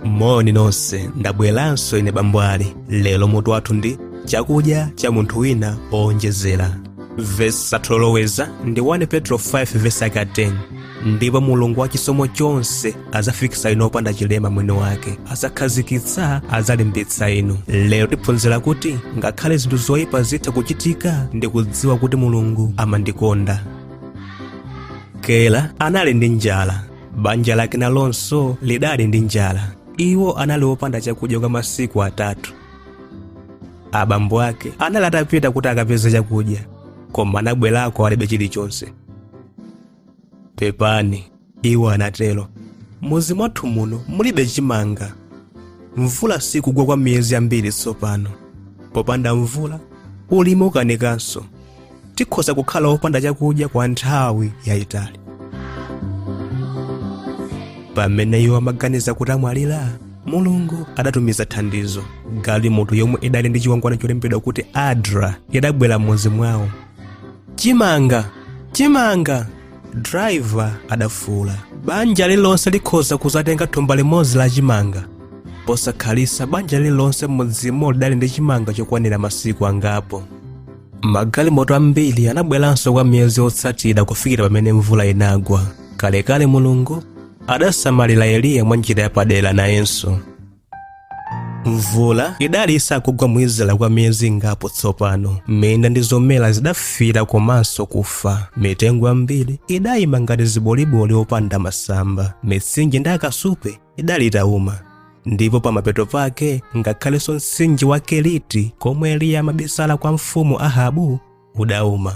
moni nonse ndabweranso ine bambo Bwali lero mutu wathu ndi chakudya cha munthu wina powonjezera vesi yathu yoloweza ndi 1 petro 5 vesi yake 10 ndipo mulungu wa chisomo chonse azafikisa inu opanda chilema mwini wake azakhazikitsa azalimbitsa inu lero tiphunzira kuti ngakhale zinthu zoyipa zitha kuchitika ndi kudziwa kuti mulungu amandikonda kela anali ndi njala banja lake nalonso lidali ndi njala iwo anali opanda chakudya kwa masiku atatu abambo ake anali atapita kuti akapeze chakudya koma anabwerako alibe chilichonse pepani iwo anatero m'muzi mwathu muno mulibe chimanga mvula sikugwa kwa miyezi yambiri tsopano popanda mvula ulimi ukanikanso tikhoza kukhala opanda chakudya kwa nthawi yayitali pamene iwo amaganiza kuti amwalira mulungu adatumiza thandizo galimoto yomwe idali ndi chikwangwani cholembedwa kuti adra idabwera m'muzi mwawo chimanga chimanga driver adafuula banja lililonse likhoza kuzatenga thumba limodzi la chimanga posakhalisa banja lililonse m'mudzimo lidali ndi chimanga chokwanira masiku angapo magalimoto ambiri anabweranso kwa miyezi yotsatira kufikira pamene mvula inagwa kalekale mulungu adasamalira eliya mwa njira yapadera nayenso mvula idali isakugwa mu israeli kwa miyezi ingapo tsopano minda ndi zomera zidafiira komanso kufa mitengo yambiri idayima ngati ziboliboli zopanda masamba mitsinje ndi akasupe idali itauma ndipo pamapeto pake ngakhalenso mtsinje wa keriti komwe eliya amabisala kwa mfumu ahabu udauma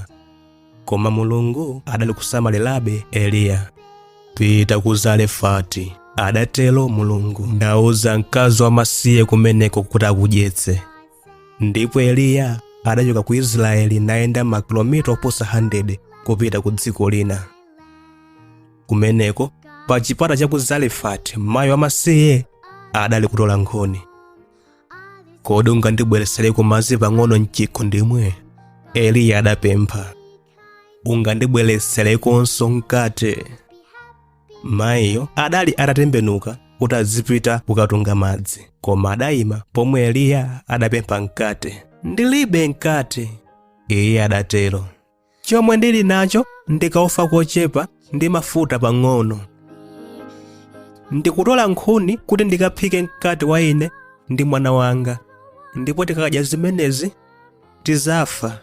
koma mulungu adali kusamalirabe eliya pita ku zarefati adatero mulungu ndauza mkazi wamasiye kumeneko kuti akudyetse ndipo eliya adachoka ku israeli nayenda makilomita oposa 100 kupita ku dziko lina kumeneko pa chipata cha ku zarefati mayi wamasiye adali kutola nkhuni kodi ungandibweresereko madzi pang'ono mchikho ndimwe eliya adapempha ungandibwereserekonso mkate mayiyo adali atatembenuka kuti azipita kukatunga madzi koma adayima pomwe eliya adapempha mkate ndilibe mkate iye adatero chomwe ndili nacho ndikaufa kochepa ndi mafuta pang'ono ndikutola nkhuni kuti ndikaphike mkate wa ine ndi mwana wanga ndipo tikakadya zimenezi tizafa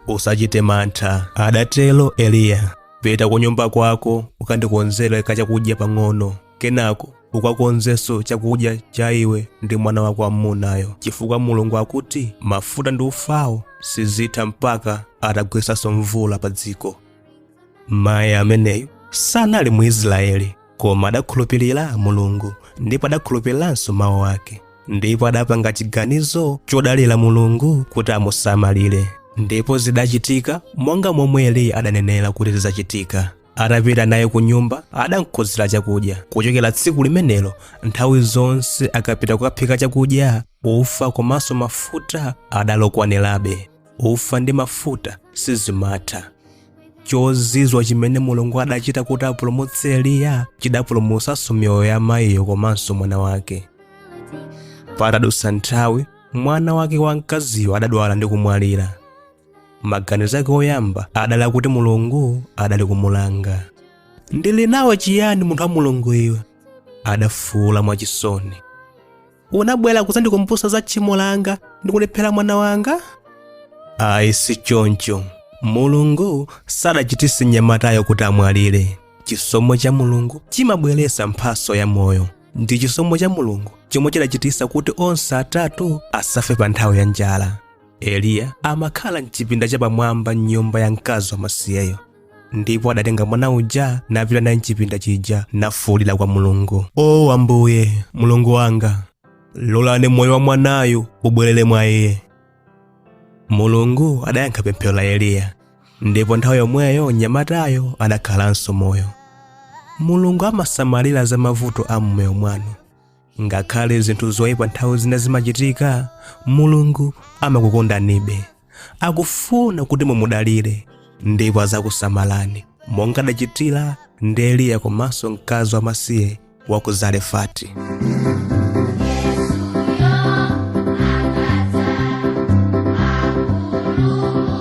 usachite mantha adatero eliya pita ku nyumba kwako ukandikonzere kachakudya pang'ono kenako ukakonzenso chakudya cha iwe ndi mwana wako wamunayo chifukwa mulungu akuti mafuta ndi ufawo sizitha mpaka atagwetsanso mvula pa dziko mayi ameneyu sanali mu israeli koma adakhulupirira mulungu ndipo adakhulupiriranso mawu ake ndipo adapanga chiganizo chodalira mulungu kuti amusamalire ndipo zidachitika monga momwe eliya adanenera kuti zidzachitika atapita naye ku nyumba adamkonzera chakudya kuchokera tsiku limenelo nthawi zonse akapita kukaphika chakudya ufa komanso mafuta adalokwanirabe ufa ndi mafuta sizimatha chozizwa chimene mulungu adachita kuti apulumutse eliya chidapulumutsanso miyoyo ya mayiyo komanso mwana wake patadutsa nthawi mwana wake wamkaziyo adadwala ndi kumwalira maganizo ake oyamba adali akuti mulungu adali kumulanga ndili nawe chiyani munthu wa mulungu iwe adafuula mwachisoni unabwera kuzandikumbutsa za tchimo langa ndi kundiphera mwana wanga ayi si choncho mulungu sadachititse mnyamatayo kuti amwalire chisomo cha mulungu chimabweretsa mphatso ya moyo ndi chisomo cha mulungu chomwe chidachititsa kuti onse atatu asafe pa nthawi ya njala eliya amakhala mchipinda chapamwamba m'nyumba ya mkazi wamasiyeyo ndipo adatenga mwana uja napita naye mchipinda chija nafuulira kwa mulungu o ambuye mulungu wanga lolani moyo wa mwanayu ubwerere mwa iye mulungu adayankha pemphero la eliya ndipo nthawi yomweyo mnyamatayo adakhalanso moyo mulungu amasamalira za mavuto a mmoyo mwanu ngakhale zinthu zoyipa nthawi zina zimachitika mulungu amakukondanibe akufuna kuti mumudalire ndipo azakusamalani monga adachitira ndi eliya komanso mkazi wamasiye wa ku zarefati